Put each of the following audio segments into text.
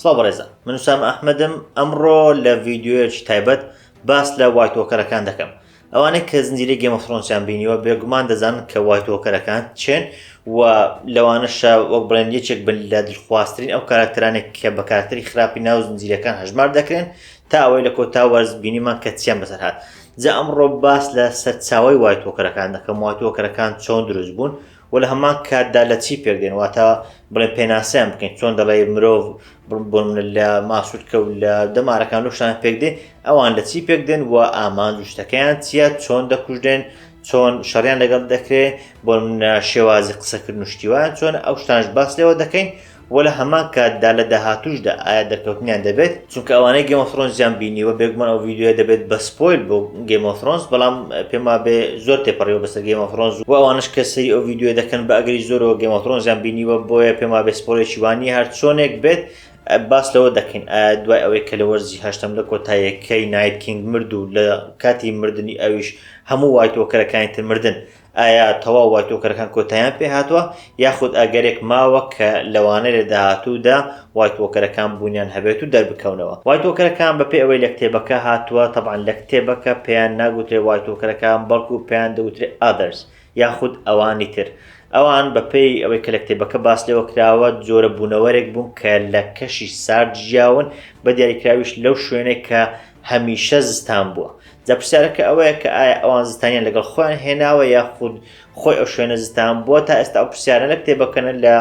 سڵاو بەڕێزان من سام ئەحمەدم ئەمڕۆ لە ڤیددیوەیەکی تایبەت باس لە وایتۆکەرەکان دەکەم ئەوانەی کە زنجیرە گەمەخرۆنسیان بینیوە بێگومان دەزان کە وایتۆکەرەکان چێن و لەوانەشە وەک بڵێن یەکێک بن لە دلخواستترین ئەو کارکترانێک کە بە کارکتری خراپی ناو زنجیرەکان هەژمار دەکرێن تا ئەوەی لە کۆتا وەرز بینیمان کە چیان بەسەرهات جا ئەمڕۆ باس لە سەرچاوەی وای تۆکەرەکان دەکەم وای تۆکەرەکان چۆن دروست بوون و لە هەمان کاتدا لە چی پێک دێن واتە بڵێ پێناسەیان بکەین چۆن دەڵێ مرۆڤ بۆن لە ماسوولکە و لە دەمارەکان و شتان پێک دێ ئەوان لە چی پێک دێن و ئامانج و شتەکەیان چییە چۆن دەکوژدێن چۆن شەڕیان لەگەڵ دەکرێت بۆ شێوازی قسەکردن و شتیوان چۆن ئەو شتانش باس لێوە دەکەین وە لە هەمان کات دا لە داهاتووش دا ئایا دەرکەوتنیان دەبێت؟ چونکە ئەوانەی گەیم ئۆف ثرۆنزیان بینیوە بێگومان ئەو ڤیدیۆیە دەبێت بە سپۆیل بۆ گەیم ئۆف ثرۆنز بەڵام پێم وابێ زۆر تێپەڕیوە بەسەر گەیم ئۆف ثرۆنز و ئەوانەش کە سەیری ئەو ڤیدیۆیە دەکەن بە ئەگەری زۆرەوە گەیم ئۆف ثرۆنزیان بینیوە بۆیە پێم وابێ سپۆیلێکی وا نییە هەر چۆنێک بێت باس لەوە دەکەین ئایا دوای ئەوەی کە لە وەرزی هەشتەم لە کۆتاییەکەی نایت کینگ مرد و لە کاتی مردنی ئەویش هەموو وایت وۆکەرەکانی تر مردن ئایا تەواو وایتۆکەرەکان کۆتاییان پێهاتووە یاخود ئەگەرێک ماوە کە لەوانەیە لە داهاتوودا وایتۆکەرەکان بوونیان هەبێت و دەربکەونەوە؟ وایتۆکەرەکان بەپێی ئەوەی لە کتێبەکە هاتووە، تەبعەن لە کتێبەکە پێیان ناگوترێت وایتۆکەرەکان بەڵکو پێیان دەوترێت Others یاخود ئەوانی تر. ئەوان بەپێی ئەوەی کە لە کتێبەکە باس لێوە کراوە جۆرە بوونەوەرێک بوون کە لە کەشی سارد ژیاون، بە دیاریکراویش لەو شوێنێک کە هەمیشە زستان بووە جا پرسیارەکە ئەوەیە کە ئایا ئەوان زستانیان لەگەڵ خۆیان هێناوە یاخود خۆی ئەو شوێنە زستان بووە تا ئێستا ئەو پرسیارە لە کتێبەکەنە لە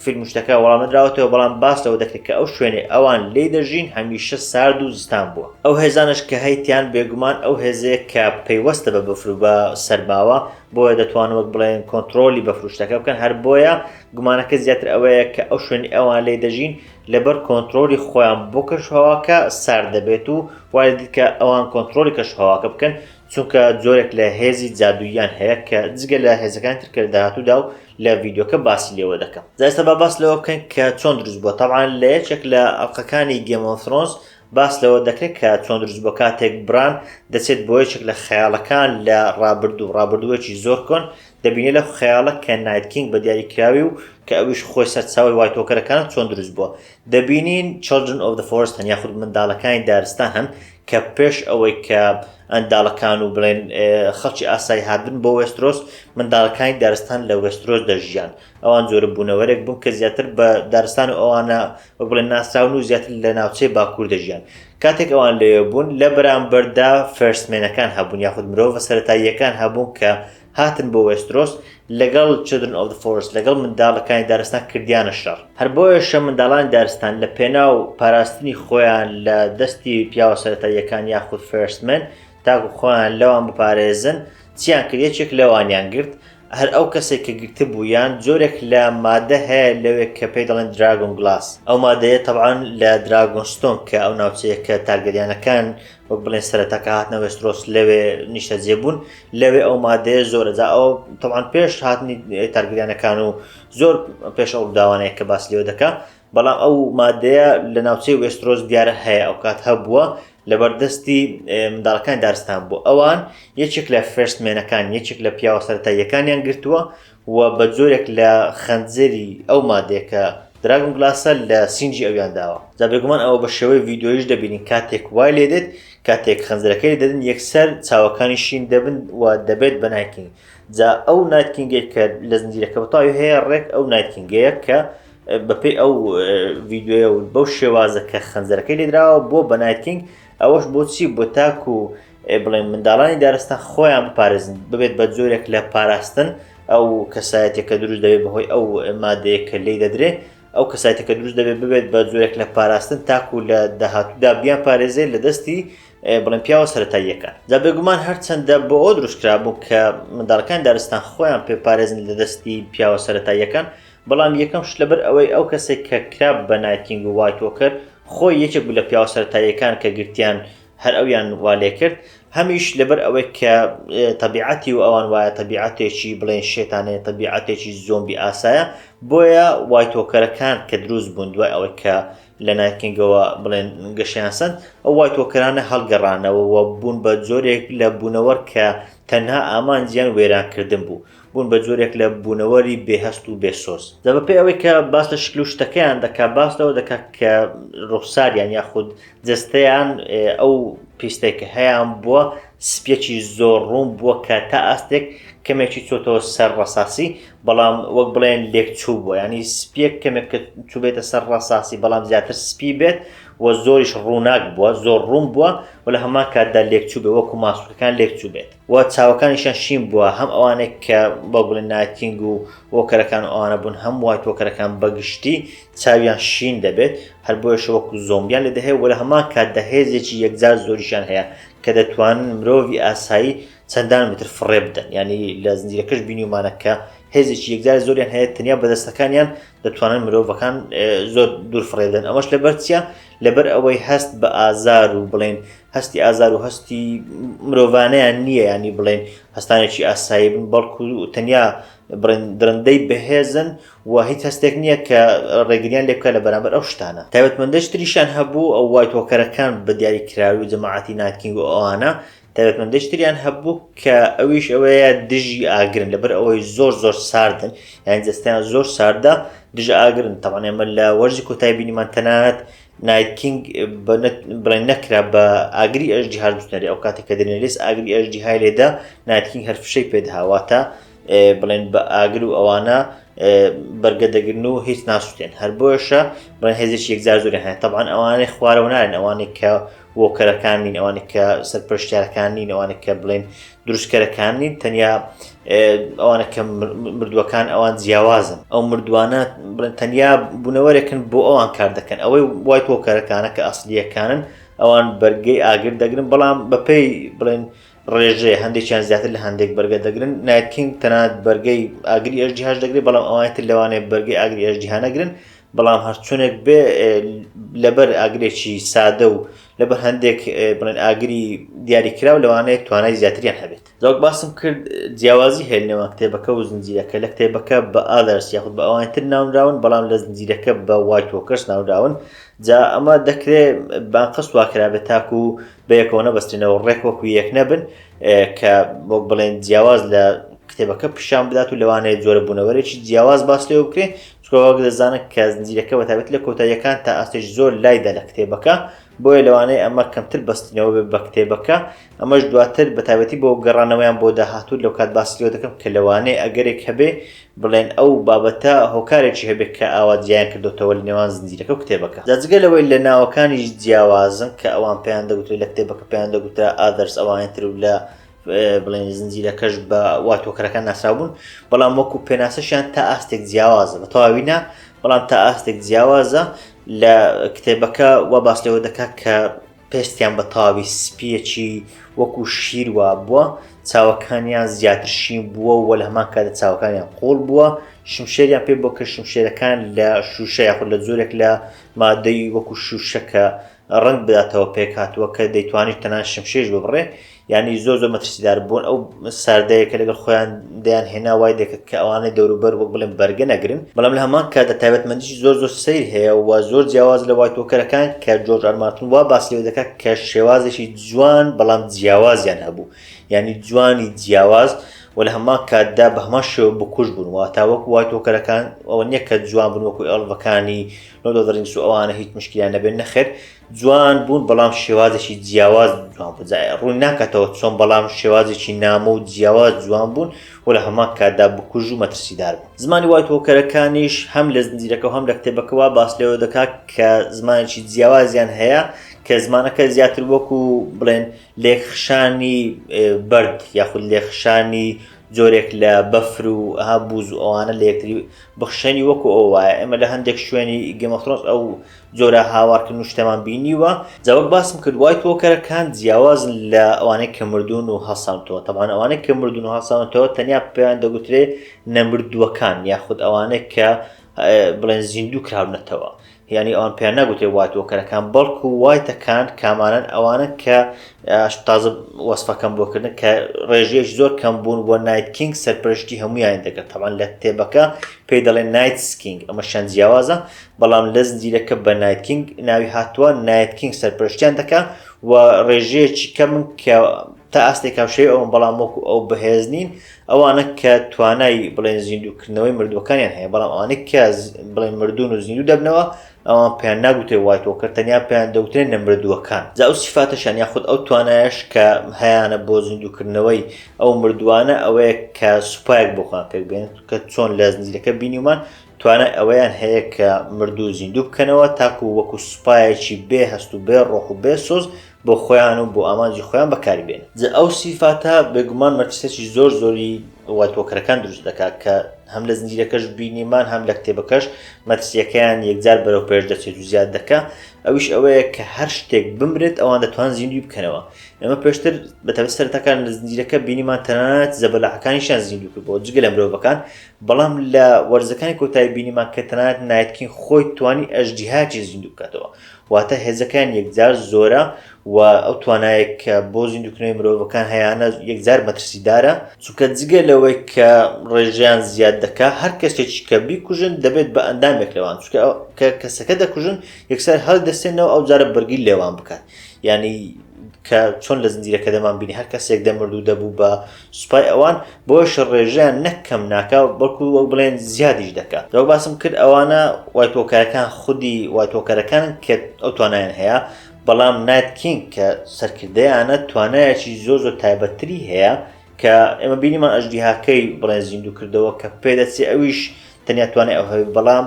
فیلم شتەکە وەڵامدراوەتەوە بەڵام باس لەوە دەکرێت کە ئەو شوێنێ ئەوان لی دەژین هەمیشە سارد و زستان بووە ئەو هێزانش کە هەیتیان بێگومان ئەو هێزەیە کە پەیوەستە بە بەفرو بە سەرماوە بۆیە دەتوان وەک بڵێن کۆنتترۆلی بە فروشتەکە بکەن هەر بۆیە گومانەکە زیاتر ئەوەیە کە ئەو شوێنی ئەوان لی دەژین لەبەر کۆنترۆلی خۆیان بۆ کەشوهەواکە سارد دەبێت و وای دەدیت کە ئەوان کۆنترۆلی کەشوهەواکە بکەن چونکە جۆرێک لە هێزی جادووییان هەیە کە جگە لە هێزەکان تر کە لە داهاتوودا و لە ڤیدیۆکە باسی لێوە دەکەم جا ئێستا با باس لەوە بکەین کە چۆن دروست بووە تەبعا لە یەکێک لە ئەڵقەکانی گێم ئۆف ثرۆنس باس لەوە دەکرێت کە چۆن دروست بووە کاتێک بران دەچێت بۆ یەکێک لە خەیاڵەکان لە ڕابردوو ڕابردووەکی زۆر کۆن دەبینێ لە خەیاڵە کە نایت کینگ بە دیاری کراوی و کە ئەویش خۆی سەرچاوی وای تۆکەرەکانە چۆن دروست بووە دەبینین چلدرن ئۆف دە فۆرست هەن یاخود منداڵەکانی دارستان هەن کە پێش ئەوەی کە ئەنداڵەکان و بڵێن خەڵکی ئاسایی هاتبن بۆ وێسترۆس منداڵەکانی دارستان لە وێسترۆس دەژیان ئەوان زۆرە بوونەوەرێک بوون کە زیاتر بە دارستان و ئەوانە وەک بڵێن ناسراون و زیاتر لە ناوچەی باکوور دەژیان کاتێک ئەوان لەوێ بوون لە بەرامبەردا فەرسمێنەکان هەبوون یاخود مرۆڤە سەتاییەکان هەبوون کە هاتن بۆ وێسترۆس لەگەڵ چدرن ئۆف فۆرس لەگەڵ منداڵەکانی دارستان کردیانە شەڕ هەر بۆیەشە منداڵانی دارستان لە پێناو پاراستنی خۆیان لە دەستی پیاوە سەرەتاییەکان یاخود فێرسمن تاکو خۆیان لەوان بپارێزن چیان کرد یەکێک لەوانیان گرت هەر ئەو کەسێک کە گرتە بوویان جۆرێک لە مادە هەیە لەوێک کە پێی دەڵێن دراگۆن گلاس ئەو مادەیە تەوان لە دراگۆنستۆن کە ئەو ناوچەیە کە تارگەریانەکان وەک بڵێن سەرەتا کە هاتنە وێسترۆس لەوێ نیشتەجێ بوون لەوێ ئەو مادەیە زۆرە جا ئەو تەوان پێش هاتنی تارگریانەکان و زۆر پێش ئەو داوانەیە کە باس لێو دەکە بەڵام ئەو مادەیە لە ناوچەی وێسترۆس دیارە هەیە ئەو کات هەبووە لە بەردەستی منداڵەکان دارستان بوو ئەوان یەکێک لە فرستمێنەکان یەکێک لە پیاوە سەرتاییەکانیان گرتووە و بە جۆرێک لە خەنجەری ئەو مادەیە کە دراگون گلاسە لە سینجی ئەویان داوە جا بێگومان ئەوە بە شێوەی ڤیدۆیش دەبینین کاتێک وای لێ دێت کاتێک خەنجەرەکەی دەدن یەکسەر چاوەکانی شین دەبن و دەبێت بە نایتکینگ جا ئەو نایتکینگێک کە لە زنجیرەکە بەتاوی هەیە ڕێک ئەو نایتکینگەیە کە بەپێی ئەو ڤیددیوەیە و بەو شێوازە کە خەنجەرەکەی لێدراوە بۆ بە نایتکینگ ئەوەش بۆچی بۆ تاکو ئێ بڵێن منداڵانی دارستان خۆیان بپارێزن ببێت بە جۆرێک لە پاراستن ئەو کەسایەتێکە دروست دەبێت بەهۆی ئەو مادەیە کە لی دەدرێ ئەو کەسایەتەکە دروست دەبێت ببێت بە جۆرێک لە پاراستن تاکو لە داهاتوودا بیان پارێزێت لە دەستی بڵێن پیاوە سەتاییەکە دا بێگومان هەرچەندە بۆ ئەو دروستکرا بوو کە منداڵەکان دارستان خۆیان پێ پارێزن لە دەستی پیاوە سەتاییەکان بەڵام یەکەم شت لەبەر ئەوەی ئەو کەسێک کە کراب بە نایتینگ و وایتۆکەر خۆی یەکێک بوو لە پیاوە سەتاییەکان کە گرتیان هەر ئەویان وا لێ کرد، هەمیش لەبەر ئەوەی کە تەبیعەتی و ئەوان وایە تەبیعەتێکی بڵێن شێتانەیە تەبیعەتێکی زۆمبی ئاسایە بۆیە وای تۆکەرەکان کە دروست بوون دوای ئەوەی کە لە نایکینگەوە بڵێن گەشیان سند ئەو وای تۆکەرانە هەڵگەڕانەوە بوون بە جۆرێک لە بوونەوەر کە تەنها ئامانجیان وێرانکردن بوو بوون بە جۆرێک لە بوونەوەری بێهەست و بێسۆز دە بەپێ ئەوەی کە باس لە شکل و شتەکەیان دەکات باس لەوە دەکات کە ڕوخساریان یاخود جستەیان ئەو پیستێک کە هەیان بووە سپیەکی زۆر ڕوون بووە کە تا ئاستێک کەمێکی چۆتەوە سەر ڕساسی بەڵام وەک بڵێن لێکچوو بووە ینی سپیەک کەمێک کە چوبێتە سەر ڕساسی بەڵام زیاتر سپی بێت و زۆریش ڕووناک بووە زۆر ڕوون بووە و لە هەمان کاتدا لێکچوو بێ وەکو ماسوولەکان لێکچوو بێت. و چاوەکانیشیان شین بووە، هەم ئەوانەی کە بە گوڵی نایتینگ و وۆکەرەکان و ئەوانە بوون، هەم وایت وۆکەرەکان بە گشتی چاویان شین دەبێت، هەر بۆیەشە وەکو زۆمبیان لێ دەهێ و لە هەمان کاتدا هێزێکی یەکجار زۆریشیان هەیە کە دەتوانن مرۆڤی ئاسایی چەندان متر فڕێ بدەن، یانی لە زنجیرەکەش بینیومانە کە هێزێکی یەکجار زۆریان هەیە تەنیا بە دەستەکانیان دەتوانن مرۆڤەکان زۆر دوور فڕێ بدەن، ئەمەش لەبەر چییە؟ لەبەر ئەوەی هەست بە ئازار و بڵێین هەستی ئازار و هەستی مرۆڤانیان نییە ینی بڵێن هەستانێکی ئاسایی بن بەڵکو و تەنیا درندەی بەهێزن و هیچ هەستێک نییە کە ڕێگریان لێ بکە لە بەرامبەر ئەو شتانە تایبەتمەندەش تریشان هەبوو ئەو وای تۆکەرەکان بە دیاری کراوی و جەماعاتی ناتکینگ و ئەوانە تایبەتمەندەش تریان هەبوو کە ئەویش ئەوەیە دژی ئاگرن لەبەر ئەوەی زۆر زۆر ساردن یان جستیان زۆر ساردە دژە ئاگرن تەوانێمە لە وەرزی کۆتای بینیمان تەنانەت نایت کینگ بڵێن نەکرا بە ئاگری ئەژدیهاش بچنەرێ ئەو کاتێک کە دەنێلیس ئاگری ئەژدیهای لێدا نایت کینگ هەر فشەی پێدها واتە بڵێن بە ئاگر و ئەوانە بەرگە دەگرن و هیچ ناسوتێن هەر بۆیشە بڵێن هێزش یەکجار زۆر هەیە تەبان ئەوانەی خوارەوە نارن ئەوانێک کە وۆکەرەکان نین ئەوانێک کە سەرپەرشتارەکان نین ئەوانێک کە بڵێن دروستکەرەکان نین تەنیا ئەوانە کە مردووەکان ئەوان جیاوازن ئەو مردوانە بڵێن تەنیا بوونەوەرێکن بۆ ئەوان کار دەکەن ئەوەی وای کۆکەرەکانە کە ئەسلیەکانن ئەوان بەرگەی ئاگر دەگرن بەڵام بەپێی بڵێن ڕێژێ هەندێکیان زیاتر لە هەندێک بەرگە دەگرن نایتکینگ تەنات بەرگەی ئاگری ئەژدیهاش دەگرێت بەڵام ئەوانێت لەوانێت بەرگی ئاگری ئەژدیهانەگرن بەڵام هەرچونێک بێ لەبەر ئاگرێکی سادە و لەبەر هەندێک بڵێن ئاگری دیاریکراو لەوانەیە توانای زیاتریان هەبێت لەوەک باسم کرد جیاوازی هەیە نێوان کتێبەکە و زنجیرەکە لە کتێبەکە بە ئادرس یاخود بە ئەوان تر ناونراون بەڵام لە زنجیرەکە بە وایتۆکەس ناوداون جا ئەمە دەکرێت بانقەست واکرابێت تاکو و بەیەکەوە نەبستنەوە ڕێک وەکو یەک نەبن کە بۆ بڵێن جیاواز لە کتێبەکە پیشان بدات و لەوانەیە جۆرە بوونەوەرێکی جیاواز باس لێ بکرێ چکۆ وەک دەزانن کە زنجیرەکە بە تابێت لە کۆتاییەکان تا ئاستێش زۆر لایدا لە کتێبەکە بۆیە لەوانەیە ئەمە کەمتر بەستنەوە بێ بە کتێبەکە ئەمەش دواتر بە تابەتی بۆ گەڕانەوەیان بۆ داهاتوو لەو کات باسیۆ دەکەم کە لەوانەیە ئەگەرێک هەبێ بڵێن ئەو بابەتە هۆکارێکی هەبێت کە ئاوا جیان کردوتەوە لە نێوان زنجیرەکە و کتێبەکە جاجگە لەوەی لە ناوەکانیش جیاوازن کە ئەوان پێیان دەگوترێت لە کتێبەکە پێیان دەگوترا ئادرس ئەوانێتر و لە بڵێن زنجیرەکەش بە وا تۆکەرەکان ناساوبوون بەڵام وەکو پێناسەشیان تا ئاستێک جیاوازە بە تەواوینا بەڵام تا ئاستێک جیاوازە لە کتێبەکە وا باس لەوە دەکات کە پێستیان بە تاوی سپیەکی وەکو شیر وا بووە چاوەکانیان زیاتر شین بووە و لە هەمان کاتە چاوەکانیان قۆڵ بووە شمشێریان پێ بۆ کە شمشێرەکان لە شوشە یاخود لە زۆرێک لە مادەی وەکو شوشەکە ڕەنگ بداتەوە پێکهاتووە کە دەیتوانیت تەنان شمشێش ببڕێ یعنی زۆر زۆر مەترسیدار بوون ئەو ساردەیەکە لەگەڵ خۆیان دەیان هێنا وای دەکرد کە ئەوانەی دەوروبەر وەک بڵێن بەرگە نەگرن بەڵام لە هەمان کاتدا تایبەتمەندیی زۆر زۆر سیر هەیە و زۆر جیاواز لە وای تۆکەرەکان کە جۆرج ئەرمارتن وا باسی لەوە دەکات کە شێوازێکی جوان بەڵام جیاوازیان هەبوو یعنی جوانی جیاواز و لە هەمان کاتدا بە هەمان شێوە بکوژ بوون واتاوەک وای تۆکەرەکان ئەوە نییە کە جوان بن وەکو ئەڵڤەکانی نۆدۆدرینس و ئەوانە هیچ مشکیان نەبێت نەخێر جوان بوون بەڵام شێوازێکی جیاواز جوان بزایە ڕوون ناکاتەوە چۆن بەڵام شێوازێکی نامۆ و جیاواز جوان بوون و لە هەمان کاتدا بکوژ و مەترسیدار بوون زمانی وای تۆکەرەکانیش هەم لە زنجیرەکە هەم لە کتێبەکەەوە باس لەوە دەکات کە زمانێکی جیاوازیان هەیە کە زمانەکە زیاتر وەکو بڵێن لێخشانی بەرد یاخود لێخشانی جۆرێک لە بەفر و ها بوز و ئەوانە لەکتری بخشێنی وەکو ئەو وایە ئێمە لە هەندێک شوێنی گێم ئۆف ثرۆنس ئەو جۆرە هاوارکردن و شتەمان بینیوە جا وەک باسم کرد وایت وۆکەرەکان جیاوازن لە ئەوانەی کە مردوون و هەڵسانەتەوە تەبعەن ئەوانەی کە مردوون و هەڵسانەتەوە تەنیا پێیان دەگوترێ نەمردووەکان یاخود ئەوانەی کە بڵێن زیندوو کراونەتەوە یانی ئەوان پێیان ناگوترێت وایت وۆکەرەکان بەڵکو وایتەکان کامانەن ئەوانە کە تازە وەسفەکەم بۆ کردن کە ڕێژەیەش زۆر کەم بوون بۆ نایت کینگ سەرپەرشتی هەمویان دەکرد تەوان لە کتێبەکە پێی دەڵێن نایت سکینگ ئەمە شەن جیاوازە بەڵام لە زنجیرەکە بە نایت کینگ ناوی هاتووە نایت کینگ سەرپەرشتیان دەکە و ڕێژەیەکی کەم کە تا ئاستێک کاوشەی ئەوم بەڵام وەکو ئەو بەهێز نین ئەوانە کە توانای بڵێن زیندووکردنەوەی مردووەکانیان هەیە بەڵام ئەوانەی کە بڵێن مردون و زیندوو دەبنەوە ئەوان پێیان ناگوتێ وای تۆکرد تەنیا پێیان دەوتێن نە مردووەکان جا ئەو سیفاتەشان یاخود ئەو توانایش کە هەیانە بۆ زیندووکردنەوەی ئەو مردووانە ئەوەیە کە سوپایەک بۆخان پێک بێن کە چۆن لە زنجیرەکە بینیمان توانای ئەوەیان هەیە کە مردوو زیندوو بکەنەوە تاکو وەکو سوپایەکی بێ هەست و بێ ڕۆح و بێ سۆز بۆ خۆیان و بۆ ئامانجی خۆیان بەکاری بێنن. جا ئەو سیفاتە بێگومان مەترسیەکی زۆر زۆری وایت وۆکەرەکان دروست دەکات کە هەم لە زنجیرەکەش بینیمان هەم لە کتێبەکەش مەترسیەکەیان یەکجار بەرەو پێش دەچێت و زیاد دەکا ئەویش ئەوەیە کە هەر شتێک بمرێت ئەوان دەتوان زیندوی بکەنەوە ئەمە پێشتر بەتەبە سەرەتەکان لە زنجیرەکە بینیمان تەنانەت زەبەلاحەکانیشان زیندوو کرد بۆ جگە لە مرۆڤەکان بەڵام لە وەرزەکانی کۆتایی بینیمان کە تەنانەت نایتکین خۆی توانی ئەژدیهاکی زیندوو بکاتەوە واتە هێزەکان یەکجار زۆرە و ئەو توانایەک کە بۆ زیندووکردنەوەی مرۆڤەکان هەیانە یەکجار مەترسیدارە، چونکە جگە لەوەی کە ڕێژەیان زیاد دەکات، هەر کەسێکی کە بیکوژن دەبێت بە ئەندامێک لەوان، چونکە کە کەسەکە دەکوژن یەکسەر هەڵیدەستێنەوە ئەوجارە بەرگری لێوان بکات، یانی کە چۆن لە زنجیرەکەدەمانبینی هەر کەسێک دەمرد و دەبوو بە سوپای ئەوان بۆ شەر ڕێژەیان نەک کەم ناکا بەڵکو وەک بڵێن زیادیش دەکا وەک باسم کرد ئەوانە وایتۆکەرەکان خودی وایتۆکەرەکانن کە ئەو توانایان هەیە بەڵام نایت کینگ کە سەرکردەیانە توانایەکی زۆر زۆر تایبەتتری هەیە کە ئێمە بینیمان ئەژدیهاکەی بڵێن زیندوو کردەوە کە پێدەچێ ئەویش تەنیا توانای ئەو هەبێت بەڵام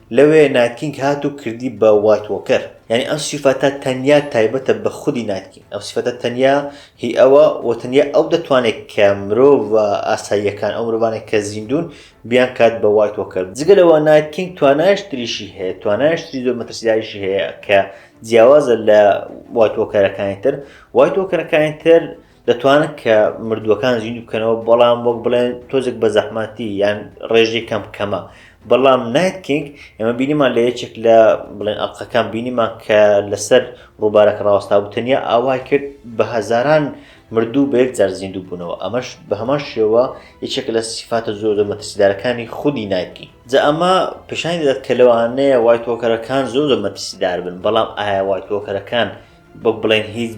لەوێ نایت کینگ هات و کردی بە وایت وۆکەر یانی ئەم سیفەتە تەنیا تایبەتە بە خودی نایت کینگ ئەم سیفەتە تەنیا هی ئەوە و تەنیا ئەو دەتوانێت کە مرۆڤ ئاساییەکان ئەو مرۆڤانێک کە زیندون بیان کات بە وایت وۆکەر جگە لەوە نایت کینگ توانایش تریشی هەیە توانایش تری زۆر مەترسیداریشی هەیە کە جیاوازە لە وایت وۆکەرەکانی تر وایت وۆکەرەکانی تر دەتوانن کە مردووەکان زیندوو بکەنەوە بەڵام وەک بڵێن تۆزێک بە زەحمەتی یان ڕێژەی کەم کەمە بەڵام نایت کینگ ئێمە بینیمان لە یەکێک لە بڵێن ئەڵلقەکان بینیمان کە لەسەر ڕووبارەکە ڕاوەستا بوو تەنیا ئاوای کرد بە هەزاران مردوو بە یەک جار زیندوو بوونەوە ئەمەش بە هەمان شێوە یەکێک لە سیفاتە زۆر زۆر مەترسیدارەکانی خودی نایتکین جا ئەمە پیشانی دەدات کە لەوانەیە وای تۆکەرەکان زۆر زۆر مەترسیدار بن بەڵام ئایا وای تۆکەرەکان وەک بڵێن هیچ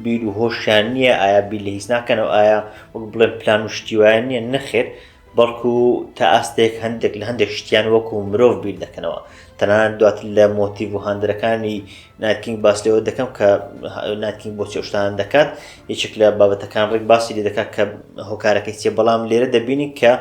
بیر و هۆشیان نییە ئایا بیر لە هیچ ناکەنەوە ئایا وەک بڵێن پلان و شتی وایە نییە نەخێر بەڵکو تا ئاستێک هەندێک لە هەندێک شتیان وەکو مرۆڤ بیر دەکەنەوە تەنان دوات لە مۆتیڤ و هاندەرەکانی ناتکینگ باس لەوە دەکەم کە ناتکینگ بۆ چێشتان دەکات یەکێک لە بابەتەکان ڕێک باسی لێ دەکات کە هۆکارەکەی چێ بەڵام لێرە دەبینین کە